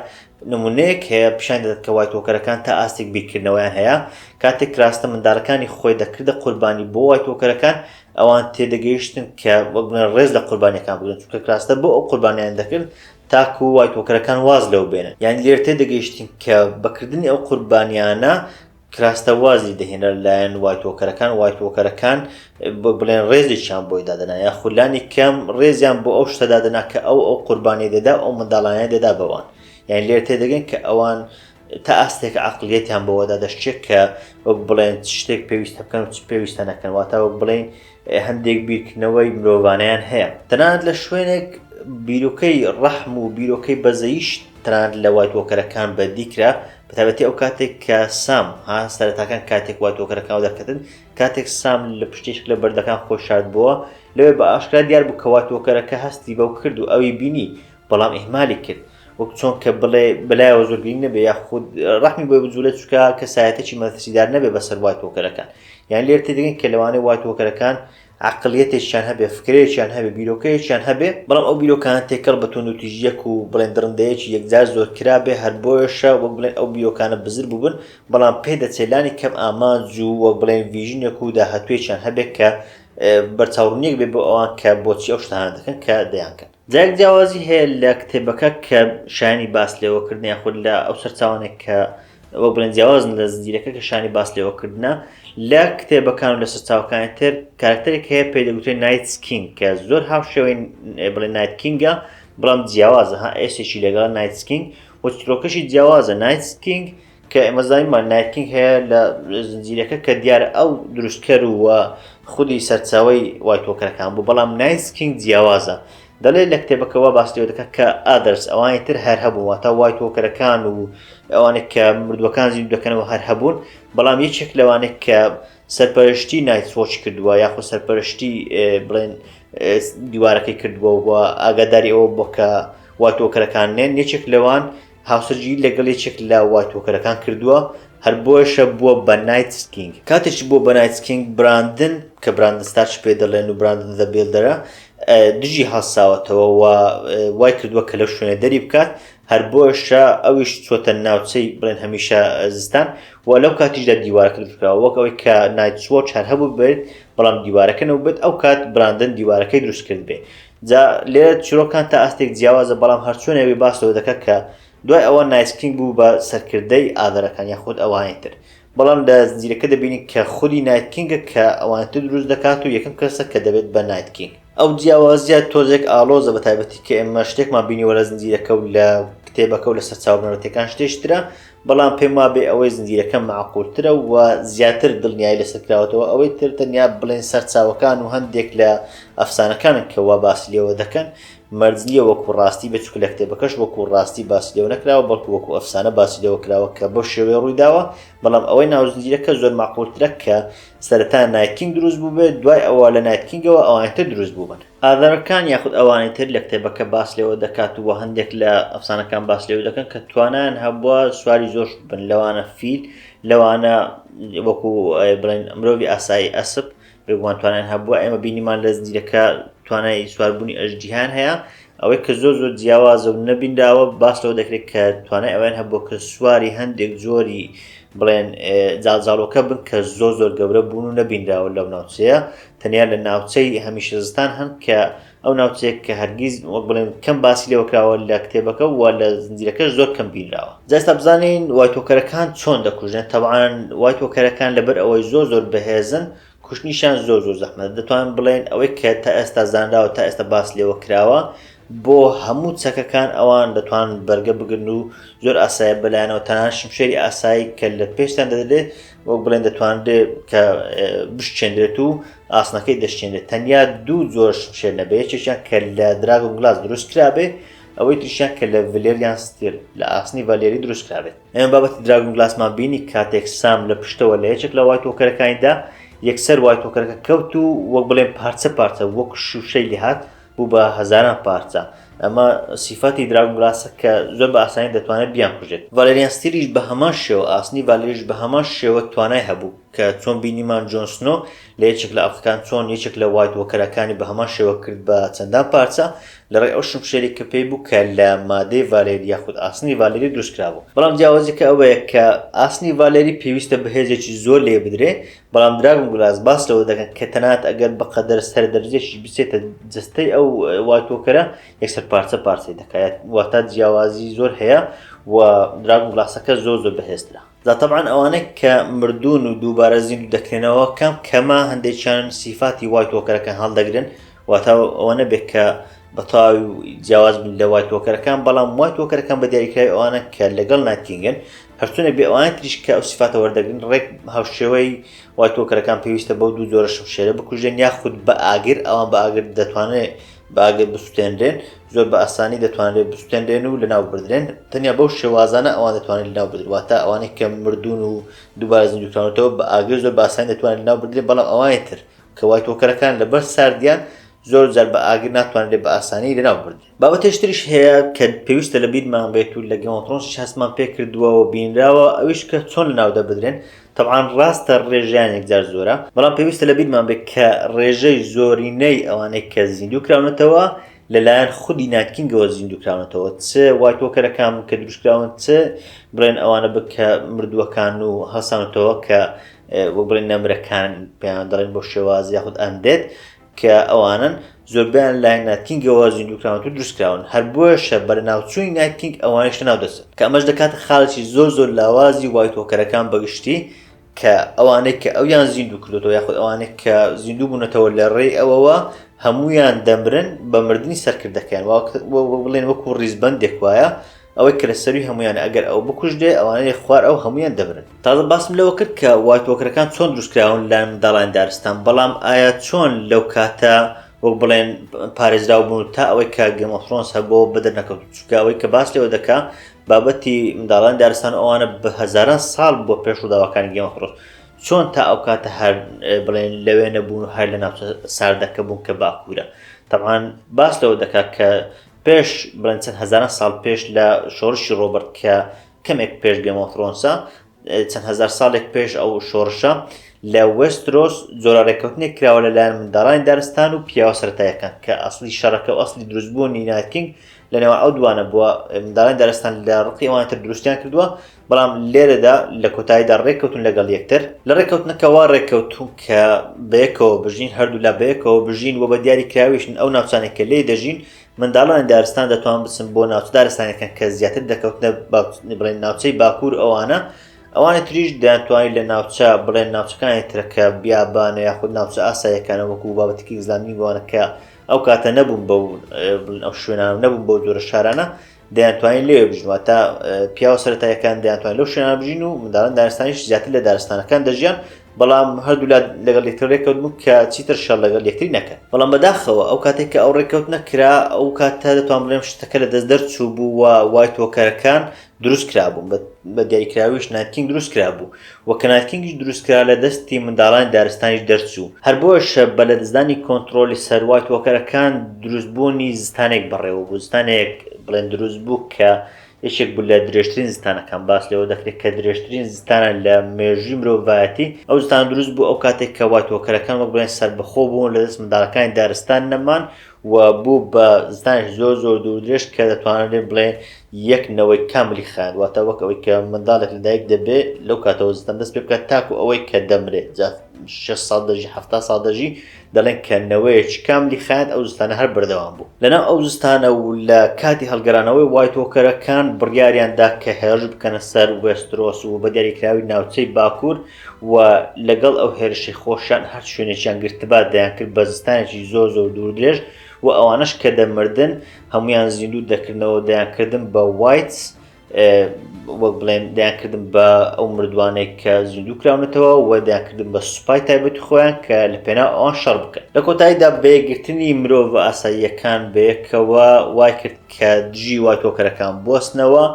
نمونەیەک هەیە پیشانی دەدات کە وایتۆکەرەکان تا ئاستێک بیرکردنەوەیان هەیە، کاتێک کراستە مندارەکانی خۆی دەکردە قوربانی بۆ وایتۆکەرەکان، ئەوان تێدەگەیشتن کە وەک بنە ڕێز لە قوربانیەکان بگرن، چونکە کراستە بۆ ئەو قوربانیانە دەکرد تاکو وایتۆکەرەکان واز لەو بێنن، یانی لێرە تێدەگەیشتن کە بەکردنی ئەو قوربانیانە، کراستە وازی دەهێنا لەلایەن وایتۆکەرەکان وایتۆکەرەکان بڵێن ڕێزێکیان بۆی دادنا یا خولانی کەم ڕێزیان بۆ ئەو شتە دادنا کە ئەو ئەو قوربانی دەدا ئەو منداڵانە دەدا بەوان یان لێر تێدەگەن کە ئەوان تا ئاستێک عقلیەتیان بەوەدا دەشتێک کە وەک بڵێن شتێک پێویستە بکەن پێویستە نەکەن واتە وەک بڵین هەندێک بیرکردنەوەی مرۆڤانەیان هەیە تەنانەت لە شوێنێک بیرۆکەی ڕەحم و بیرۆکەی بەزەیش تەنانەت لە وای تۆکەرەکان بەدی کرا بەتابەتی ئەو کاتێک کە سام ها سەرەتاکان کاتێک وای تۆکەرەکان دەکردن کاتێک سام لە پشتێک لە بەردەکان خۆی شاردبووە لەوێ بە ئاشکرا دیار بوو کەوا تۆکەرەکە هەستی بەو کرد و ئەوی بینی بەڵام ئیهمالی کرد وەک چۆن کە بڵێ بەلایەوە زۆر گرنگ نەبێ یا خود ڕحمی بۆی بجوولە چکە کەسایەتێکی مەترسیدار نەبێ بەسەر وای تۆکەرەکان یان لێر تێدەگەین کە لەوانەیە وای تۆکەرەکان عقلیەتێکیان هەبێ فکرێکیان هەبێ بیرۆکەیەکیان هەبێ بەڵام ئەو بیرۆکان تێکەڵ بە تۆن و تیژیەک و بڵێن دڕندەیەکی یەکجار زۆر کرا بێ هەر بۆیشە وەک بڵێن ئەو بیرۆکانە بزر بووبن بەڵام پێ دەچێلانی کەم ئامانج و وەک بڵێن ڤژنێک و داهاتوێکیان هەبێت کە بەرچاوڕنیەک بێ بۆ ئەوان کە بۆچی ئەو شتانە دەکەن کە دەیانکەن جارێک جیاوازی هەیە لە کتێبەکە کە شایانی باس لێوەکردن یاخود لە ئەو سەرچاوانێک کە وەک بڵێن جیاوازن لە زنجیرەکە کە شانی باس لێوەکردە لە کتێبەکان و لە سەرچاوەکانی تر کارکتەرێک هەیە پێ دەگوتێن نایت سکینگ کە زۆر هاو شێوەی بڵێ نایت کینگە بڵام جیاوازە ها ئێسێکی لەگەڵ نایت سکینگ و ترۆکەشی جیاوازە نایت سکینگ کە ئێمە زانیمان نایت کینگ هەیە لە زنجیرەکە کە دیارە ئەو دروستکەر و خودی سەرچاوی وایتۆکەرەکان بوو بەڵام نایت کینگ جیاوازە دەڵێ لە کتێبەکەەوە باسیەوە دەکە کە ئادرس ئەوانی تر هەر هەبوو واتە وایتۆکەرەکان و ئەوانێک کە مردوەکان زیندوو دەکەنەوە هەر هەبوون بەڵام یەکێک لەوانێک کە سەرپەرشتی نایت سۆچ کردووە یاخۆ سەرپەرشتی بڵێن دیوارەکەی کردووە و ئاگاداری ئەوە بۆ کە واتۆکەرەکان نێن یەکێک لەوان هاوسەرگیری لەگەڵ یەکێک لە وای تۆکەرەکان کردووە، هەر بۆیەشە بووە بە نایت کینگ. کاتێکی بووە بە نایت کینگ، براندن، کە براندن ستارچ پێ دەڵێن و براندن زە بیڵدەرە، دژی هەڵساوەتەوە و وای کردووە کە لەو شوێنە دەری بکات، هەر بۆیەشە ئەویش چووەتە ناوچەی بڵێن هەمیشە زستان و لەو کاتیشدا دیوارەکە دروستکراوە، وەک ئەوەی کە نایتس وۆچ هەر هەبووبێت، بەڵام دیوارەکە نەبووبێت، ئەو کات براندن دیوارەکەی دروستکردبێ. جا لێرە چیرۆکان تا ئاستێک جیاوازە، بەڵام هەرچۆن یاوی باس لەوە دەکات کە دوای ئەوە نایت کینگ بوو بە سەرکردەی ئاڤەرەکان یاخود ئەوانی تر، بەڵام لە زنجیرەکە دەبینین کە خودی نایت کینگە کە ئەوانی تر دروست دەکات و یەکەم کەسە کە دەبێت بە نایت کینگ. ئەو جیاوازییە تۆزێک ئاڵۆزە بەتایبەتی کە ئێمە شتێکمان بینیوە لە زنجیرەکە و لە کتێبەکە و لە سەرچاوە بنەرەتییەکان شتێکی ترە، بەڵام پێم وابێ ئەوەی زنجیرەکە مەعقولترە و زیاتر دڵنیایی لەسەر کراوەتەوە ئەوەی تر تەنیا بڵێن سەرچاوەکان و هەندێک لە ئەفسانەکانن کە وا باسی لێوە دەکەن مەرج نییە وەکو ڕاستی بێت چونکە لە کتێبەکەش وەکو ڕاستی باسی لێوە نەکراوە بەڵکو وەکو ئەفسانە باسی لێوە کراوە کە بەو شێوەیە ڕووی داوە بەڵام ئەوەی ناو زنجیرەکە زۆر مەعقولترە کە سەرەتا نایتکینگ دروست بووبێت دوای ئەوە لە نایتکینگەوە ئەوانتر دروست بووبن ئاڤەرکان یاخود ئەوانی تر لە کتێبەکە باس لێوە دەکات و هەندێک لە ئەفسانەکان باس لێوە دەکەن کە توانایان هەبووە سواری زۆرش بن لەوانە فیل لەوانە وەکو بڵێن مرۆڤی ئاسایی ئەسب بێگومان توانیان هەبووە ئێمە بینیمان لە زنجیرەکە توانای سواربوونی ئەژدیان هەیە ئەوەی کە زۆر زۆر جیاوازە و نەبینراوە باس لەوە دەکرێت کە توانای ئەویان هەبووە کە سواری هەندێک جۆری بڵێن جاڵجاڵۆکە بن کە زۆر زۆر گەورە بوون و نەبینراوە لەو ناوچەیە تەنیا لە ناوچەی هەمیشە زستان هەن کە ئەو ناوچەیەک کە هەرگیز وەک بڵێن کەم باسی لێوە کراوە لە کتێبەکە و لە زنجیرەکەش زۆر کەم بینراوە جاستا بزانین وای تۆکەرەکان چۆن دەکوژێن تەوان وای تۆکەرەکان لەبەر ئەوەی زۆر زۆر بەهێزن کوشتنیشان زۆر زۆر زەحمەت دەتوان بڵێن ئەوەی کە تا ئێستا زانراوە تا ئێستا باس لێوە کراوە بۆ هەموو چەکەکان ئەوان دەتوان بەرگە بگرن و زۆر ئاسایە بەلایەنەوە تەنان شمشێری ئاسایی کە لە پێشتان دەدرێت وەک بڵێن دەتوانرێت کە بشچێنرێت و ئاسنەکەی دەشتێنێت تەنیا دوو جۆر شمشێر نەبێ یەکێکیان کە لە دراگم گلاس دروست کرابێ ئەوەی تریشیان کە لە ڤلێریان ستیل لە ئاسنی ڤالێری دروست کرابێت ئەم بابەت دراگم گلاسمان بینی کاتێک سام لە پشتەوە لە یەکێک لە وای تۆکەرەکانیدا یەکسەر وای تۆکەرەکە کەوت و وەک بڵێن پارچە پارچە وەک شوشەی لێهات بوو بە هەزاران پارچە، ئەمە سیفەتی دراگون گلاسە کە زۆر بە ئاسانی دەتوانێت بیانکوژێت. ڤالێریان ستیلیش بە هەمان شێوە، ئاسنی ڤالێریش بە هەمان شێوە توانای هەبوو، کە چۆن بینیمان جۆن سنۆ لە یەکێک لە ئەڵقەکان چۆن یەکێک لە وایت وۆکەرەکانی بە هەمان شێوە کرد بە چەندان پارچە لە ڕێی ئەو شمشێری کە پێی بوو کە لە مادەی ڤالێری یاخود ئاسنی ڤالێری دروست کرابوو. بەڵام جیاوازیەکە ئەوەیە کە ئاسنی ڤالێری پێویستە بە هێزێکی زۆر لێی بدرێ بەڵام دراگون گلاس باس لەوە دەکەن کە تەنات ئەگەر بە قەدەر سەر دەرجێکیش بچێتە جستەی ئەو واتۆکەرە یەکسەر پارچە پارچەی دەکات واتە جیاوازی زۆر هەیە و دراگون گلاسەکە زۆر زۆر بەهێزترە زاتەبان ئەوانەی کە مردوون و دووبارە زیندوو دەکرێنەوە کەم کەمە هەندێکیان سیفاتی وای تۆکەرەکە هەڵدەگرن واتا ئەوە نەبێت کە بەتاوی جیاواز بن لە وای تۆکەرەکان بەڵام وای تۆکەرەکان بە دیاریکراوی ئەوانە کە لەگەڵ ناتینگن هەر چۆنێک بێ ئەوانەی تریش کە ئەو سیفاتە وەردەگرن ڕێک هاوشێوەی وای تۆکەرەکان پێویستە بەو دوو جۆرە شمشێرە بکوژێن یاخود بە ئاگر ئەوان بە ئاگر دەتوانێت باگر بسوتێنرێن زۆر بە ئاسانی دەتوانرێت بستێنرێن و لەناو بردرێن تەنیا بەو شێوازانە ئەوان دەتوانێت لەناو بدرواتە ئەوانەی کە مردون و دووبارە زیندوکراونەتەوە بە ئاگر زۆر باسان دەتوانێت لەناو بدرێت بەڵام ئەوانی تر کەوای تۆکەرەکان لەبەر ساردیان زۆر جار بە ئاگر ناتوانرێت بە ئاسانی لەناو بردرێن بابەتێش تریش هەیە کە پێویستە لە بیرمان بێت و لە گەمەترۆنسش هەستمان پێ کردووە و بینراوە ئەویش کە چۆن لە ناودە بدرێن تەعاان ڕاستە ڕێژیان یەکجار زۆرە بەڵام پێویستە لە بیرمان بێت کە ڕێژەی زۆرینەی ئەوانەی کە زیندوو کراونەتەوە لەلایەن خودی ناتکینگەوە زیندووکراونەتەوە چ وایتۆکەرەکان کە دروستکراون چ بڵێن ئەوانە بکە مردووەکان و هەسانەتەوە کە وەک بڵێن نەمرەکان پێیان دەڵێن بۆ شێوازی یاخود ئەندێت کە ئەوانەن زۆربەیان لای نایت کینگەوە زیندووکراونتر دروستکراون هەر بۆیەشە بەرەناوچوونی نایت کینگ ئەوانیش لەناو دەچن کە ئەمەش دەکاتە خاڵێکی زۆر زۆر لاوازی وایت وۆکەرەکان بەگشتی کە ئەوانەی کە ئەویان زیندوو کردوەوە یاخود ئەوانێک کە زیندوو بوونەتەوە لە ڕێی ئەوەوە هەمویان دەمرن بە مردنی سەرکردەکەیان بڵێن وەکو ڕیزبندێک وایە ئەوەی کە لە سەروی هەموویانە ئەگەر ئەو بکوژرێ ئەوانە لە خوار ئەو هەموویان دەمرن. تازە باسم لەوە کرد کە وایت وۆکرەکان چۆن دروست کراون لەلایەن منداڵانی دارستان، بەڵام ئایا چۆن لەو کاتە وەک بڵێن پارێزراو بوون و تا ئەوەی کە گەیم ئۆف ثرۆنس هەبووەوە بەدەر نەکەوتون؟ چونکە ئەوەی کە باس لێوە دەکا بابەتی منداڵانی دارستان و ئەوانە بە هەزاران ساڵ بووە پێش ڕووداوەکانی گەیم ئۆف ثرۆنس چۆن تا ئەو کاتە هەر بڵێن لەوێ نەبوون و هەر لە ناوچە ساردەکە بوون کە باکوورە تەمان باس لەوە دەکات کە پێش بڵێن چەند هەزاران ساڵ پێش لە شۆڕشی ڕۆبرت کە کەمێک پێش گەمۆفرۆنسا چەند هزار ساڵێک پێش ئەو شۆڕشە لە وەسترۆس جۆرە ڕێککەوتنێک کراوە لەلایەن منداڵانی دارستان و پیاوە سەرتایەکان کە ئەسلی شەڕەکە و ئەسلی دروستبوونی ناتکینگ لەنێوان ئەو دوانە بووە منداڵانی دارستان لە ڕقی ئەوانتر دروستیان کردووە بەڵام لێرەدا لە کۆتاییدا ڕێککەوتن لەگەڵ یەکتر لە ڕێککەوتنەکەەوە ڕێککەوتون کە بەیەکەوە بژین هەردوولا بەیەکەوە بژین و بە دیاری کراویشن ئەو ناوچانێک کە لێ دەژین منداڵانی دارستان دەتوان بچن بۆ ناوچە دارستانەکان کە زیاتر دەکەوتنە بڵێن ناوچەی باکوور ئەوانە ئەوانی تریش دەیانتوانی لە ناوچە بڵێن ناوچەکانی ترەکە بیابانە یاخود ناوچە ئاسایەکانە وەکو بابەتکی ئزلامی بوانەکە ئەو کاتە نەبوون بە ئەو شوێنان نەبوون بۆ جۆرە شارانە دەیانتوانین لێ بژین واتە پیاوە سەرەتایەکان دەیانتوان لەو شوێنان بژین و منداڵان دارستانیش زیاتر لە دارستانەکان دەژیان بەڵام هەردوولا لەگەڵ یەکتر ڕێکەوت بوو کە چیتر شەڵ لەگەڵ یەکتری نەکەن بەڵام بەداخەوە ئەو کاتێک کە ئەو ڕێکەوت نەکرا ئەو کاتە دەتوان بڵێم شتەکە لە دەست دەرچوو بوو و وای تۆکەرەکان دروست کرابوون بە دیاریکراویش ناتین دروست کرابوو و کنارکینگیش دروستکرا لە دەستی منداڵانی دارستانیش دەرچوو هەر بۆیەشە بە لەدەستدانی کۆنتڕۆڵی سەر وایت وۆکەرەکان دروست بوونی زستانێک بەڕێوە بوو زستانێک بڵێن دروست بوو کە یەکێک بوو لە درێژترین زستانەکان باس لەوە دەکرێت کە درێژترین زستانە لە مێژووی مرۆڤایەتی ئەو زستان دروست بوو ئەو کاتێک کە وایت وۆکەرەکان وەک بڵێن سەربەخۆ بوون لە دەست منداڵەکانی دارستان نەمان و بوو بە زانش زۆر زۆر دوور درێژ کە دەتوانرێ بڵێ یەک نەوەی کاملی خایاند واتە وەک ئەوەی کە منداڵێک لە دایک دەبێ لەو کاتەوە زستان دەست پێ بکات تاکو ئەوەی کە دەمرێت جا شش ساڵ دەژی هەفتا ساڵ دەژی دەڵێن کە نەوەیەکی کاملی خایاند ئەو زستانە هەر بەردەوام بوو لەناو ئەو زستانە و لە کاتی هەڵگەرانەوەی وایتۆکەرەکان بڕیاریان دا کە هێرش بکەنە سەر وێسترۆس و بە دیاریکراوی ناوچەی باکوور و لەگەڵ ئەو هێرشەی خۆشیان هەر شوێنێکیان گرتبا دەیانکرد بە زستانێکی زۆر زۆر دووردرێژ و ئەوانەش کە دەمردن هەمویان زیندوو دەکردنەوە دەیانکردن بە وایتس وەک بڵێن دەیانکردن بە ئەو مردوانێک کە زیندوو کراونەتەوە و دەیانکردن بە سوپای تایبەت خۆیان کە لە پێنا ئەوان شەڕ بکەن لە کۆتاییدا بەیەگرتنی مرۆڤ ئاساییەکان بەیەکەوە وای کرد کە دژی وای تۆکەرەکان بستنەوە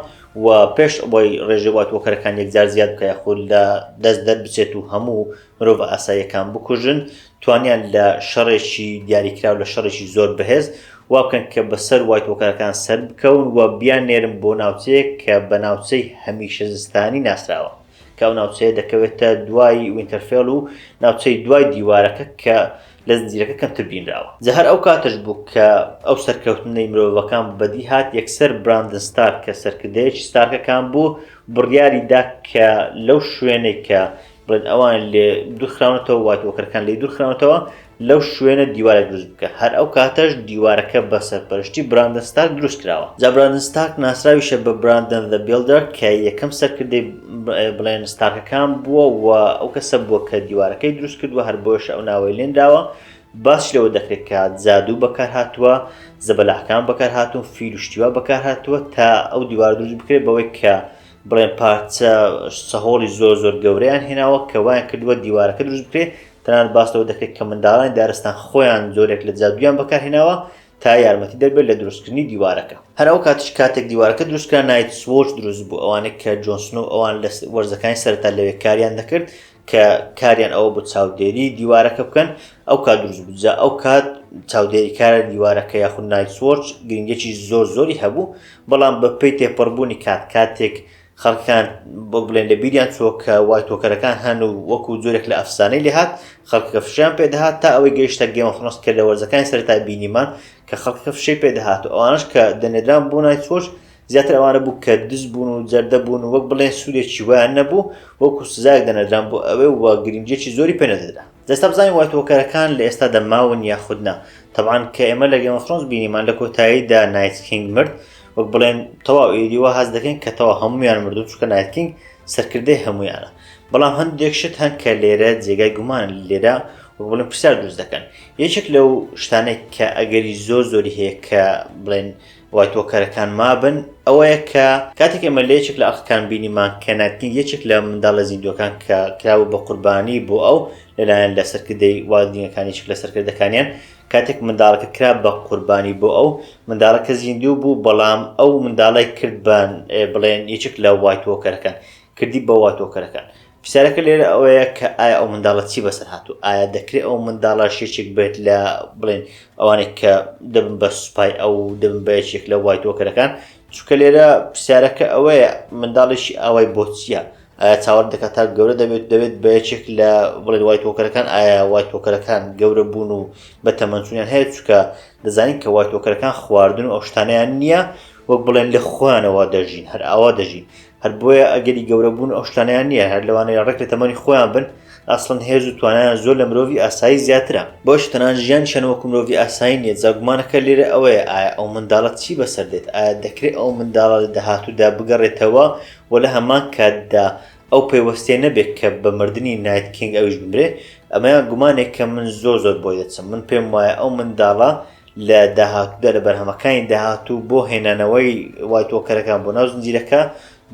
و پێش ئەوەی ڕێژەی واتووەکەرەکان یەکجار زیاد بکە یاخود لە دەست دەربچێت و هەموو مرۆڤە ئاساییەکان بکوژن توانیان لە شەڕێکی دیاریکراو لە شەڕێکی زۆر بەهێز وا بکەن کە بەسەر وایتوەکەرەکان سەر بکەون و بیان نێرم بۆ ناوچەیەک کە بە ناوچەی هەمیشە زستانی ناسراوە کە ئەو ناوچەیە دەکەوێتە دوای وینتەرفێڵ و ناوچەی دوای دیوارەکە کە لە زنجیرەکە کەمتر بینراوە جا هەر ئەو کاتەش بوو کە ئەو سەرکەوتنەی مرۆڤەکان بەدی هات یەکسەر براندن ستارک کە سەرکردەیەکی ستارکەکان بوو بڕیاری دا کە لەو شوێنێک کە بڵێن ئەوان لێ دوورخراونەتەوە وات وەکەرەکان لی دوورخراونەتەوە لەو شوێنە دیوارە دروست بکە هەر ئەو کاتەش دیوارەکە بە سەرپەرشتی براندستاک دروست کراوە جا براندستاک ناسراویشە بە براندن دە بیلدەر کە یەکەم سەرکردەی بڵێن ستارکەکان بووە و ئەو کەسە بووە کە دیوارەکەی دروست کردووە هەر بۆش ئەو ناوەی لێنراوە باش لەوە دەکرێت کە زادوو بەکار هاتووە زەبەلاحکان بەکار هاتوون فیلوشتیوا بەکار هاتووە تا ئەو دیوار دروست بکرێت بەوەی کە بڵێن پارچە سەهۆڵی زۆر زۆر گەورەیان هێناوە کە وایان کردووە دیوارەکە دروست بکرێت تەنان باستەوە دەکرێت کە منداڵانی دارستان خۆیان زۆرێک لە جادویان بەکارهێناوە تا یارمەتی دەربێت لە دروستکردنی دیوارەکە. هەر ئەو کاتیش کاتێک دیوارەکە دروستکرا نایت سوۆرچ دروست بوو ئەوانەی کە جۆن سنۆو ئەوان لە وەرزەکانی سەرەتا لەوێ کاریان دەکرد کە کاریان ئەوە بوو چاودێری دیوارەکە بکەن ئەو کات دروست بوو جا ئەو کات چاودێری کارە دیوارەکە یاخود نایت سوۆرچ گرنگێکی زۆر زۆری هەبوو بەڵام بە پێی تێپەڕبوونی کات کاتێک خەڵکان بۆ بڵێن لە بیریان چۆ کە وای تۆکەرەکان هەن و وەکو جۆرێک لە ئەفسانەی لێهات خەڵکە فشیان پێدەهات تا ئەوەی گەیشتە گەمەخنۆس کە لە وەرزەکانی سەرتا بینیمان کە خەڵکە فشەی پێدەهات و ئەوانش کە دەنێدران بۆ نای چۆش زیاتر ئەوانە بوو کە دز بوون و جەردە بوون وەک بڵێن سوودێکی ویان نەبوو وەکو سزایەک دەنەدران بۆ ئەوێ و گرنگێکی زۆری پێنەدەدا جا ئێستا بزانین وایت وۆکەرەکان لە ئێستادا ماون یاخود نا تەبعان کە ئێمە لە گێمەخرۆنس بینیمان لە کۆتاییدا نایتکینگ مرد وەک بڵێن تەواو ئێدیوە هەز دەکەین کە تەوا هەمویان مردو چکە نایتکینگ سەرکردەی هەمویانە بەڵام هەندێک شت هەن کە لێرە جێگای گومان لێرە بڵێن پرسیار دروست دەکەن یەکێک لەو شتانێک کە ئەگەری زۆر زۆری هەیە کە بڵێن وایت وۆکەرەکان مابن، ئەوەیە کە کاتێک ئێمە لە یەکێک لە ئەڵقەکان بینیمان کە نایتنیل یەکێک لە منداڵە زیندووەکان کە کرابوو بە قوربانی بۆ ئەو لەلایەن لە سەرکردەی والدینەکان یەکێک لە سەرکردەکانیان کاتێک منداڵەکە کرا بە قوربانی بۆ ئەو منداڵەکە زیندوو بوو بەڵام ئەو منداڵی کرد بە بڵێن یەکێک لە وایت وۆکەرەکان کردی بە وات وۆکەرەکان پرسیارەکە لێرە ئەوەیە کە ئایا ئەو منداڵە چی بەسەر هاتوو ئایا دەکرێت ئەو منداڵە شێچێک بێت لە بڵێن ئەوانێک کە دەبن بە سوپای ئەو دەبن بە یەکێک لە وای تۆکەرەکان چونکە لێرە پرسیارەکە ئەوەیە منداڵێکی ئاوای بۆچیە ئایا چاوەڕ دەکات تا گەورە دەبێت دەبێت بە یەکێک لە بڵێن وای تۆکەرەکان ئایا وای تۆکەرەکان گەورە بوون و بە تەمەنچونیان هەیە چکە دەزانین کە وای تۆکەرەکان خواردن و ئەو شتانیان نییە وەک بڵێن لە خوانەوە دەژین هەر ئاوا دەژین هەر بۆیە ئەگەری گەورە بوون ئەو شتانەیان نییە هەر لەوانەیە ڕێک لە تەمەنی خۆیان بن ئاسڵن هێز و توانایان زۆر لە مرۆڤی ئاسایی زیاترە بۆش تەنان ژیان شەن وەکو مرۆڤی ئاسایی نیە زاگومانەکە لێرە ئەوەیە ئایا ئەو منداڵە چی بەسەر دێت ئایا دەکرێت ئەو منداڵە لە داهاتوودا بگەڕێتەوە و لە هەمان کاتدا ئەو پەیوەستێ نەبێت کە بە مردنی نایت کینگ ئەویش بمرێ ئەمەیان گومانێک کە من زۆر زۆر بۆی دەچم من پێم وایە ئەو منداڵە لە داهاتوودا لە بەرهەمەکانی داهاتوو بۆ هێنانەوەی وای تۆکەرەکان بۆ ناو زنجیرەکە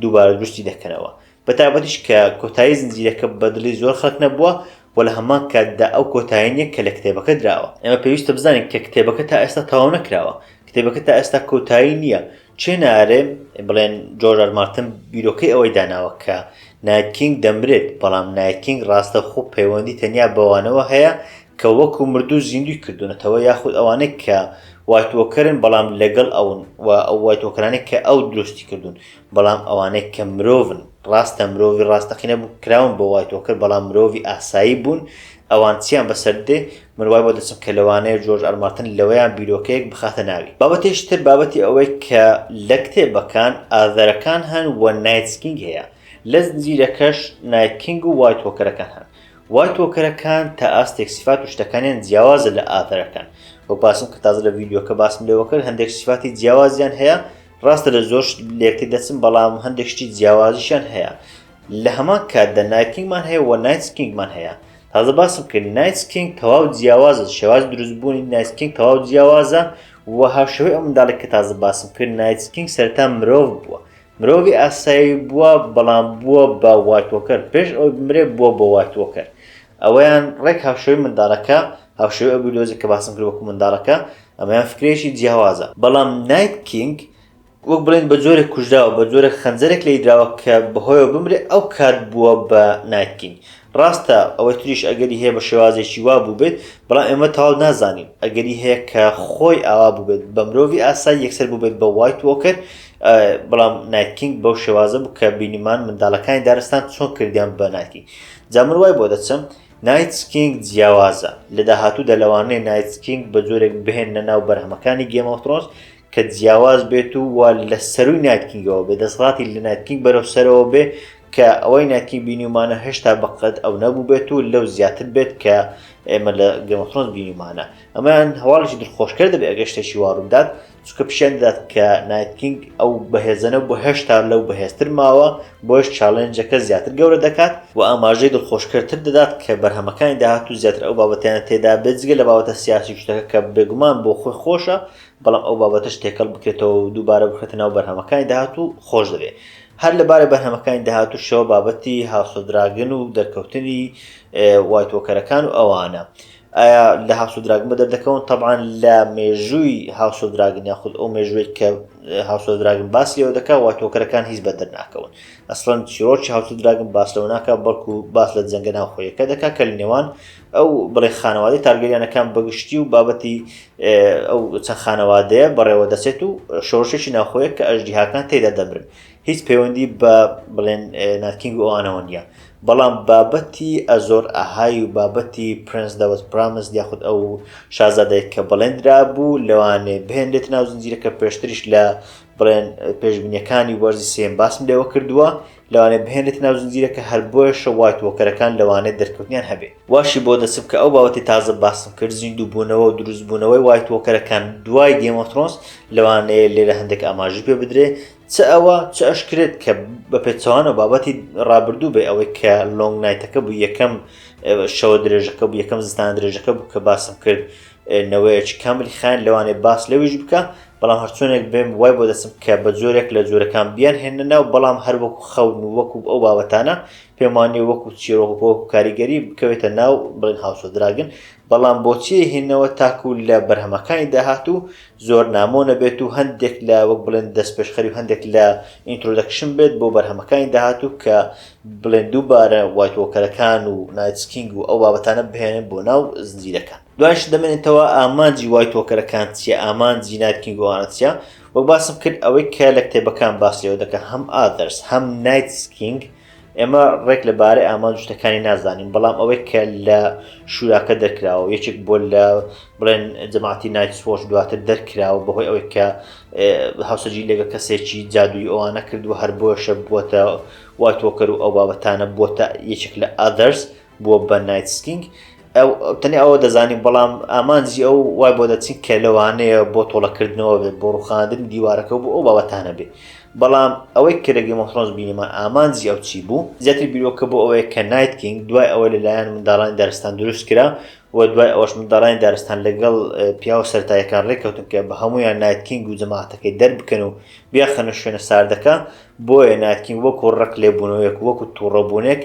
دووبارە دروستی دەکەنەوە بە تابەتیش کە کۆتایی زنجیرەکە بەدلی زۆر خەک نەبووە و لە هەمان کاتدا ئەو کۆتایینیە کە لە کتێبەکە دراوە ئێمە پێویستە بزانین کە کتێبەکە تا ئێستا تەواو نەکراوە کتێبەکە تا ئێستا کۆتایی نییە چێ نارێ بڵێن جۆرج ئار مارتن بیرۆکەی ئەوەی داناوە کە نایت کینگ دەمرێت، بەڵام نایت کینگ ڕاستەوخۆ پەیوەندی تەنیا بەوانەوە هەیە کە وەکو مردوو زیندووی کردوونەتەوە یاخود ئەوانەی کە وایت وۆکەرن بەڵام لەگەڵ ئەون و ئەو وایت وۆکەرانەی کە ئەو دروستی کردوون بەڵام ئەوانەی کە مرۆڤن ڕاستە مرۆڤی ڕاستەقینە بوو کراون بۆ وایت وۆکەر بەڵام مرۆڤی ئاسایی بوون ئەوان چیان بەسەر دێ من وای بۆ دەچم کە لەوانەیە جۆرج ئار مارتن لەوەیان بیرۆکەیەک بخاتە ناوی. بابەتێکی تر بابەتی ئەوەی کە لە کتێبەکان ئاذەرەکان هەن و نایتس کینگ هەیە لە زنجیرەکەش نایت کینگ و وایت وۆکەرەکان هەن وایت وۆکەرەکان تا ئاستێک سیفات و شتەکانیان جیاوازە لە ئاذەرەکان وەک باسم کە تازە لە ڤیدیۆکە باسم لێوە کرد هەندێک سیفاتی جیاوازیان هەیە ڕاستە لە زۆر شت لێکتێ دەچن بەڵام هەندێک شتی جیاوازیشیان هەیە لە هەمان کاتدا نایت کینگمان هەیە وە نایتس کینگمان هەیە تازە باسم کرد نایتس کینگ تەواو جیاوازە شێواز دروست بوونی نایتس کینگ تەواو جیاوازە وە هاوشێوەی ئەو منداڵێک کە تازە باسم کرد نایتس کینگ سەرەتا مرۆڤ بووە مرۆڤی ئاسایی بووە بەڵام بووە بە وایت وۆکەر پێش ئەوەی بمرێ بووە بە وایت وۆکەر ئەوەیان ڕێک هاوشێوەی منداڵەکە هاوشێوەی ئەو بیردۆزە کە باسم کرد وەکو منداڵەکە ئەمەیان فکرەیەکی جیاوازە بەڵام نایت کینگ وەک بڵێن بە جۆرێک کوژراوە، بە جۆرێک خەنجەرێک لێی دراوە کە بەهۆیەوە بمرێ، ئەو کات بووە بە نایت کینگ. ڕاستە ئەوەی تریش ئەگەری هەیە بە شێوازێکی وا بووبێت، بەڵام ئێمە تەواو نازانین. ئەگەری هەیە کە خۆی ئاوا بووبێت، بە مرۆڤی ئاسایی یەکسەر بووبێت بە وایت وۆکەر، بەڵام نایت کینگ بەو شێوازە بوو کە بینیمان منداڵەکانی دارستان چۆن کردیان بە نایت کینگ. جا من وای بۆ دەچم نایت کینگ جیاوازە. لە داهاتوودا لەوانەیە نایت کینگ بە جۆرێک بهێننە ناو بەرهەمەکانی گێم ئۆف ترۆنس کە جیاواز بێت و وا لە سەرووی نایتکینگەوە بێ دەسەڵاتی لە نایتکینگ بەرەو سەرەوە بێ کە ئەوەی نایتکینگ بینیمانە هێشتا بەقەت ئەو نەبوو بێت و لەو زیاتر بێت کە ئێمە لە گەمەخۆنس بینیمانە ئەمەیان هەواڵێکی دڵخۆشکرد دەبێت ئەگە شتێکی واڕوودات چکە پیشێن دەدات کە نایتکینگ ئەو بەهێزەنە بۆ هێشتا لەو بەهێزتر ماوە بۆش چاڵێنجەکە زیاتر گەورە دەکات و ئاماژەی دڵخۆشکردتر دەدات کە بەرهەمەکانی داهات و زیاتر ئەو بابەتیان تێدا بێت جگە لە باوەتە سیاسی شتەکە کە بێگومان بۆ خۆی خۆشە بەڵام ئەو بابەتەش تێکەڵ بکرێتەوە و دووبارە بخرێتە ناو بەرهەمەکانی داهاتوو خۆش دەبێت هەر لەبارە بەرهەمەکانی داهاتووشەوە بابەتی هاوسۆدراگن و دەرکەوتنی وایتۆکەرەکان و ئەوانە ئایا لە هاوسۆدراگن بە دەردەکەون طبعاان لە مێژووی هاوسۆدراگن یاخود ئەو مێژوێک کە هاوسۆدراگن باس لەوە دەکا واتۆکەرەکان هیچ بە دەرناکەون ئەسڵەن چیرۆکی هاوسۆدراگن باس لەوە ناکە بەڵکو باس لە جەنگە ناوخۆیەکە دەکا کە لە نێوان ئەو بڵێ خانەوادەی تارگەریانەکان بەگشتی و بابەتی ئەو چەند خانەوادەیە بەڕێوە دەچێت و شۆڕشێکی ناخۆیە کە ئەژدیهاکان تێدا دەمرن هیچ پەیوەندی بە بڵێن ناتکینگ و ئەوانەوە نیە بەڵام بابەتی ئەزۆر ئەهای و بابەتی پرنس دەوت پرامس دیاخود ئەو شازادەیە کە بڵێندرا بوو لەوانێ بهێنرێت ناو زنجیرەکە پێشتریش لە بڵێن پێشبینیەکانی وەرزی سێم باسم لێوە کردووە لەوانەیە بهێنرێتە ناو زنجیرەکە هەر بۆیەشە وایت وۆکەرەکان لەوانەیە دەرکەوتنیان هەبێ واشی بۆ دەچم کە ئەو بابەتەی تازە باسم کرد زیندووبوونەوە و دروستبوونەوەی وایت وۆکەرەکان دوای گەیم ئۆف ترۆنس لەوانەیە لێرە هەندێک ئاماژەی پێ بدرێ چ ئەوە چ ئەش کرێت کە بە پێچەوانە بابەتی ڕابردوو بێ ئەوەی کە لۆنگ نایتەکە بوو یەکەم شەوە درێژەکە بوو یەکەم زستان درێژەکە بوو کە باسم کرد نەوەیەکی کاملی خایەن لەوانەیە باس لەویش بکا بەڵام هەرچۆنێک بێم وای بۆ دەسم کە بە جۆرێک لە جۆرەکان بیان هێنە ناو بەڵام هەر وەکو خەون و وەکو ئەو بابەتانە پێم وانێ وەکو چیرۆک بۆ کاریگەری بکەوێتە ناو بڵێن هاوسۆ دراگن بەڵام بۆچی هێنەوە تاکو لە بەرهەمەکانی داهات و زۆر نامۆ نەبێت و هەندێک لە وەک بڵێن دەست پێشخەری و هەندێک لە ئینترۆدەکشن بێت بۆ بەرهەمەکانی داهات و کە بڵێن دووبارە وایت وۆکەرەکان و نایتس کینگ و ئەو بابەتانە بهێنن بۆ ناو زنجیرەکە دوایش دەمێنێتەوە ئامانجی وایت وۆکەرەکان چیە ئامانجی نایت کینگ و ئەوانە چیە وەک باسم کرد ئەوەی کە لە کتێبەکان باس لێوە دەکە هەم ئادەرس هەم نایتس کینگ ئێمە ڕێک لەبارەی ئامانج شتەکانی نازانین بەڵام ئەوەی کە لە شوراکە دەرکراوە یەکێک بۆ لە بڵێن جەماعتی نایتسۆش دواتر دەرکراوە بەهۆی ئەوەی کە هاوسەجی لەگە کەسێکی جادووی ئەوانە کردووە هەر بۆشە بووەتە وای تۆکەر و ئەو بابەتانە بۆتە یەکێک لە ئادەرس بووە بە نایتسکینگ ئەو تەنێ ئەوە دەزانین بەڵام ئامانجی ئەو وای بۆ دەچین کە لەوانەیە بۆ تۆڵەکردنەوە بێت بۆ ڕوخاندنی دیوارەکە بۆ ئەو بابەتانە بێت بەڵام ئەوەی کە لەگەی مۆترۆنز بینیمان ئامانجی ئەو چی بوو زیاتر بیرۆکە بۆ ئەوەیە کە نایتکینگ دوای ئەوە لەلایەن منداڵانی دارستان دروست کرا و دوای ئەوەش منداڵانی دارستان لەگەڵ پیاوە سەرتایەکان ڕێککەوتن کە بە هەمویان نایتکینگ و جەماعەتەکەی دەربکەن و بیاخەنە شوێنە ساردەکە بۆیە نایتکینگ وەکو ڕق لێبوونەوەیەک و وەکو توڕەبوونێک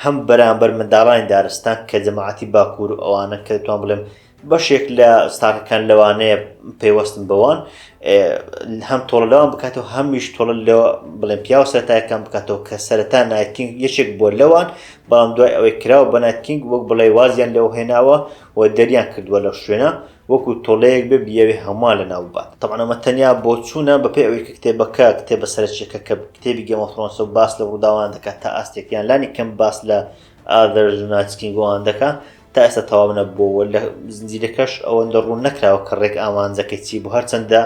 هەم بەرامبەر منداڵانی دارستان کە جەماعەتی باکوور و ئەوانە کە دەتوان بڵێم بەشێک لە ستاکەکان لەوانەیە پەیوەستن بەوان هەم تۆڵە لەوان بکاتەوە هەمیش تۆڵە لە بڵێن پیاو سەرتایەکان بکاتەوە کە سەرەتا نایتکینگ یەکێک بۆ لەوان بەڵام دوای ئەوەی کراوە بە نایتکینگ وەک بڵێ وازیان لەو هێناوە و دەریان کردووە لەو شوێنە وەکو تۆڵەیەک بێ بیەوێ هەمووان لەناو ببات تەبعەن ئەمە تەنیا بۆچوونە بەپێی ئەوەی کە کتێبەکە کتێبە سەرەکیەکە کە کتێبی گێم ئۆف ثرۆنسە و باس لە ڕووداوان دەکات تا ئاستێک یان لانی کەم باس لە ئادەر ژناتسکین گۆوان دەکا تا ئێستا تەواو نەبووەوە لە زنجیرەکەش ئەوەندە ڕوون نەکراوە کە ڕێک ئامانجەکەی چی بوو هەرچەندە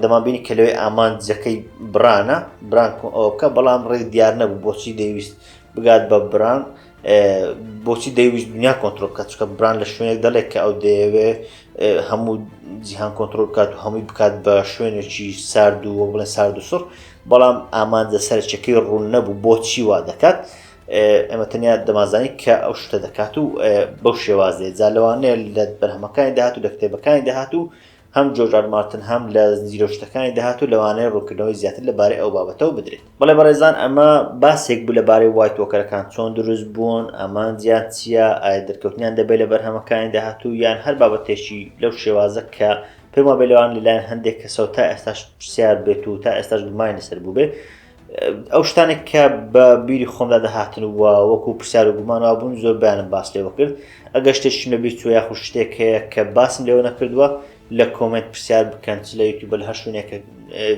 دەمان بینی کە لەوێ ئامانجەکەی برانە بران ئەوکە بەڵام ڕێک دیار نەبوو بۆچی دەیویست بگات بە بران بۆچی دەیویست دنیا کۆنتترۆل بکات چکە بران لە شوێنێک دەڵێت کە ئەو دەیەوێ هەموو جیهان کۆنتترۆل بکات و هەمووی بکات بە شوێنێکی سارد و وە بڵێن سارد و سڕ بەڵام ئامانجە سەرچەکەی ڕوون نەبوو بۆچی وا دەکات ئەمە تەنیا دەمازانی کە ئەو شتە دەکات و بەو شێوازێ جا لەوانەیە لە بەرهەمەکانی داهات و لە کتێبەکانی داهات و هەم جۆرج ئار مارتن هەم لە زنجیرە وشتەکانی داهات و لەوانەیە ڕوونکردنەوەی زیاتر لە بارەی ئەو بابەتەوە بدرێت. بەڵێ بەڕێزان ئەمە باسێک بوو لە بارەی وایت وۆکەرەکان چۆن دروست بوون، ئامانجیان چییە، ئایا دەرکەوتنیان دەبێت لە بەرهەمەکانی داهاتوو یان هەر بابەتێکی لەو شێوازە کە پێم وابێت لەوان لەلایەن هەندێک کەسەوە تا ئێستاش پرسیار بێت و تا ئێستاش گومانی لەسەر بووبێت، ئەو شتانێک کە بە بیری خۆمدا دەهاتن و وەکو پرسیار و گومان وابوون زۆر بەیانم باس لێوە کرد ئەگەر شتێکشم لە بیر چوە یاخود شتێک هەیە کە باسم لێوە نەکردووە لە کۆمنت پرسیار بکەن چ لە یوتیوب لە هەر شوێنێکە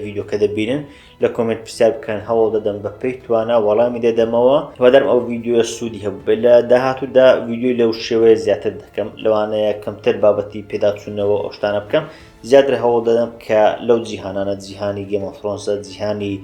ڤیددیوکە دەبینن لە کۆمنت پرسیار بکەن هەوڵ دەدەم بە پێی توانا وەڵامی دەدەمەوە وەدەرم ئەو ڤیددیوە سوودی هەبوو لە داهاتوودا ڤیددیوی لەو شێوەیە زیاتر دەکەم لەوانەیە کەمتر بابەتی پێداچوونەوە ئەو شتانە بکەم زیاتر هەوڵ دەدەم کە لەو جیهانانە جیهانی گێمەفرۆنسە جیهانی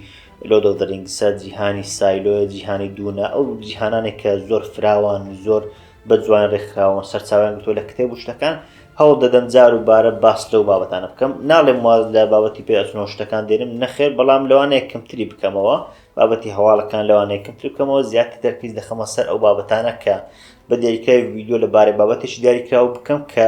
لۆدەدرینگسە جیهانی سایلۆە جیهانی دوونە ئەو جیهانانێک کە زۆر فراوان زۆر بە جوان ڕێکخراوە سەرچاویان گوتۆ لە کتێب و شتەکان هەوڵ دەدەم جار و بارە باس لەو بابەتانە بکەم ناڵێم واز لە بابەتی پێچنەوە شتەکان دێنم نەخێر بەڵام لەوانەیە کەمتری بکەمەوە بابەتی هەواڵەکان لەوانەیە کەمتر بکەمەوە زیاتر تەرکیز دەخەمە سەر ئەو بابەتانە کە بە دێریکای ویددیو لە بارەی بابەتێکی دیاریکراوە بکەم کە